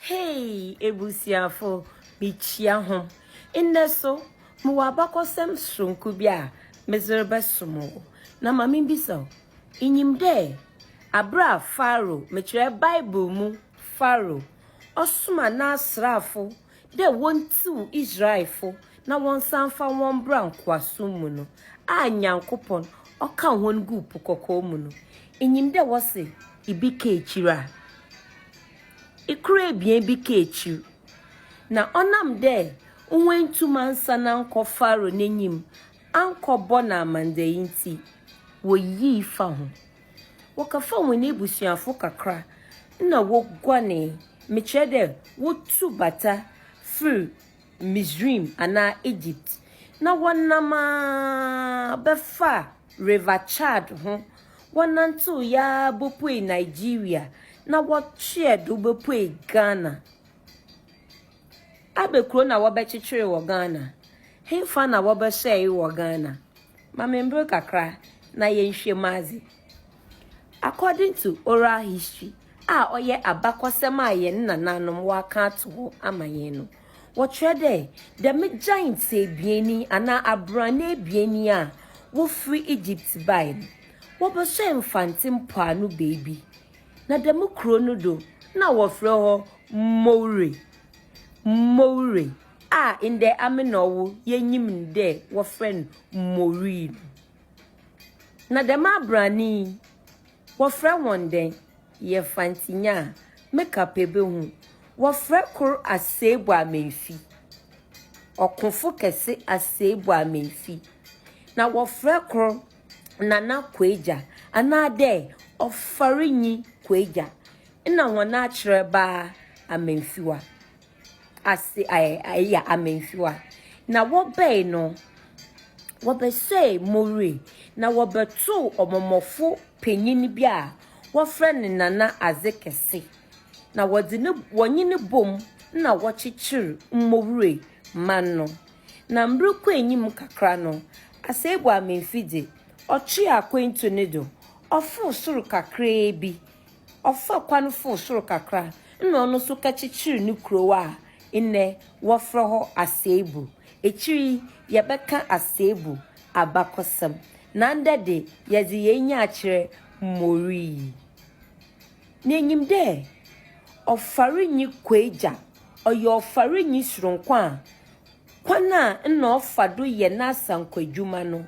Hey ebusuafo, mikyia hom. Ndɛ so, mowɔ abakɔsɛm soronko bi a medze rebɛsoma wo. Na ma mimbisa wo, inyim dɛ aber a Pharaoh, mekyerɛ Bible mu Pharaoh, ɔsomaa n'asraafo dɛ wontsiw Israelfo na wɔnsan mfa hɔn mbra nkowaasom mu no a Nyankopɔn ɔkaa hɔn guu Po Kɔkɔɔ mu no, inyim dɛ wɔse bi ka ekyir a, kor ebien bi ka ekyir. Na ɔnam dɛ woenntum annsan annkɔ Pharaoh n'enyim annkɔbɔ no amandzɛɛ ntsi, woyii fa ho. Wɔkɛfaa hɔn ebusuafo kakra na woguanee, mekyerɛ dɛ wotu bata fir Misraim anaa Egypt, na wɔnam ara bɛfaa River Chad ho, wɔnantseew yi ara bopuee Nigeria, na wɔtweɛɛ do bopuee Ghana. Aber kor na wɔbɛkyekyeer wɔ Ghana? Henfa na wɔbɛsɛɛe wɔ Ghana? Ma me mber kakra na yɛnhwɛ mu adze. According to oral history a ɔyɛ abakɔsɛm a hɛn nanaanom wɔakã ato hɔ ama hɛn no, wɔkyerɛ dɛ dɛm giants ebien yi anaa abrane ebien yi a wofir Egypt bae no, wɔbɛhyɛɛ Mfantse mpoano beebi, na dɛm kurow no do nna wɔfrɛ hɔ Moure, Moure. a ndɛ Amenɔwo yenyim no dɛ wɔfrɛ no Maureen no. Na dɛm abrane yi, wɔfrɛ hɔn dɛn? Yɛfantinyaa, Meka pɛ behu. Wɔfrɛ kor Aseibuamemfi, ɔkõfo kɛse Aseibuamemfi. Na wɔfrɛ kor Nana Kuegya, anaadɛ Ɔfarinyi Kuegya, nna hɔn akyerɛbaa Amemfiwa. ase ayɛ ayɛ amansiwa. Na wɔbɛe no, wɔbɛsɛee Mowry, na wɔbɛtoo ɔmɔmɔfo panyin bi a wɔfrɛ no Nana Adze Kɛse, na wɔdze no wɔnye no boom na wɔkyekyeer Mowry man no. Na mber kɔɔ enyim kakra no, Aseibu Amanfi dze, ɔtwee akwantu no do, ɔfoor sor kakraabi ɔfaa kwan foro soro kakra na ɔno nso ka kyekyeree ne kurow a nnɛ wɔfrɛ hɔ Asebu. Akyiri yi yɛbɛka Asebu abakɔsɛm, na ndɛ de yɛdze yɛn enyi akyerɛ Moree. Na inyim dɛ ɔfarinyi Kwaegya ɔyɛ ɔfarinyi soronko a kwan a nna ɔfa do yɛ n'asankwadwuma no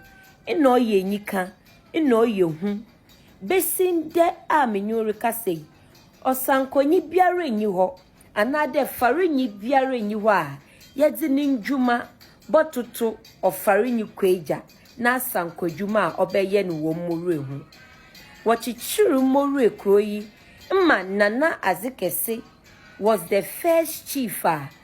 nna ɔyɛ enyikã, nna ɔyɛ hu Besi ndɛ a menye wo rekasa yi, ɔsankɔnyi biara nnyi hɔ anaadɛ farinyi biara nnyi hɔ a yɛdze ne ndwuma bɔtoto ɔfarinyi Kwagya n'asankɔdwuma a ɔbɛyɛ no wɔ Morue ho. Wɔkyekyeer Morue kurow yi ma Nana Adzekɛse was the first chief a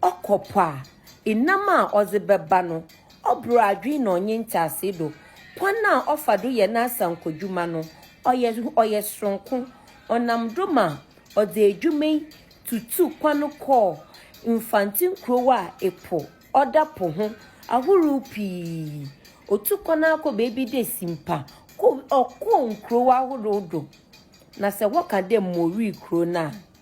Ɔkɔ po a, enam a ɔdze bɛba no, ɔbor adwen na ɔnye ntseasee do. Kwan a ɔfa do yɛ n'asankodwuma no, ɔyɛ ɔyɛ soronko. Ɔnam do ma ɔdze edwuma yi tutuu kwan kɔɔ Mfantse nkurow a epo ɔda po ho ahorow pii. Otu kwan ara kɔ beebi dɛ Simpa, kɔ ɔkɔɔ nkurow ahorow do, na sɛ wɔkã dɛ Mowee kurow no a,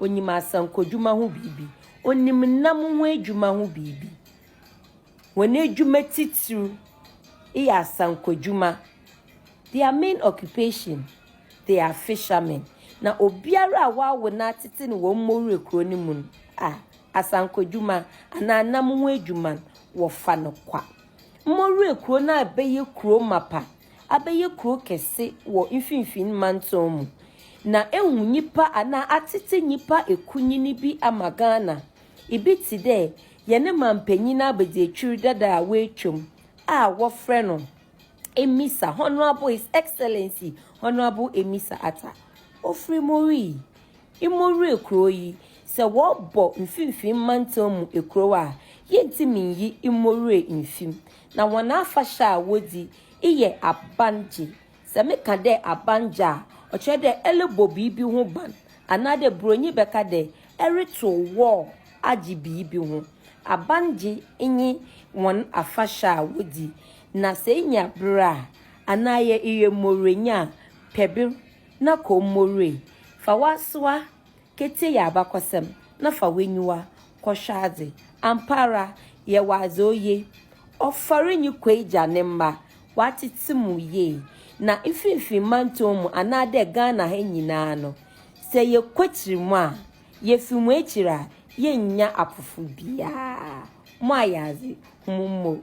Ɔnim asankodwuma ho biribi. Ɔnim nam ho adwuma ho biribi. Wɔn adwuma titiriw yɛ asankodwuma. Their main occupation, they are fishermen. Na obiara a wɔawo no atete no wɔ Mmowura kuro no mu no, a, asankodwuma anaa nam ho adwuma no, wɔfa no kwa. Mmowura kuro no abɛyɛ kuro mapa abɛyɛ kuro kɛse wɔ Mfinfin Mantɔn mu, na ehu nyipa anaa atsetse nyipa ekunyin bi ama Ghana. Ibi tse dɛ yɛne manpanyin abadziekyir dada a woetwa mu a wɔfrɛ no Emisa, Honourable His Excellency Honourable Emisa Attah. Ofri Morii, Imorie kurow yi, sɛ wɔbɔ Mfinfin Mantɔn mu ekurow a, yentumi nnyi Imorie mmfim. na hɔn afahyɛ a wodzi eyɛ abangye. Sɛ mekã dɛ abangye a, ɔkyerɛ dɛ erobɔ biribi ho ban, anaadɛ Buronyi bɛkã dɛ erotow wall agye biribi ho. Abangye nye hɔn afahyɛ a wodzi, na sɛ inya ber a, anaa yɛ eyɛ mborwenyi a, pɛ ber na kɔ mborwee. Fa w'asowa ketsie yɛ abakɔsɛm na fa w'enyiwa kɔhwɛ adze. Ampaara, yɛwɔ adze oye. Ɔfɔr nye Kwegya ne mba, wɔatsetse mu yie. Na mfinfin mantɔw mu anaadɛ Ghana ha nyina no, sɛ yɛkɔkyir mu a, yefi mu ekyir a, yennya apofor biara. Moayɛ adze, hom mbɔ mu.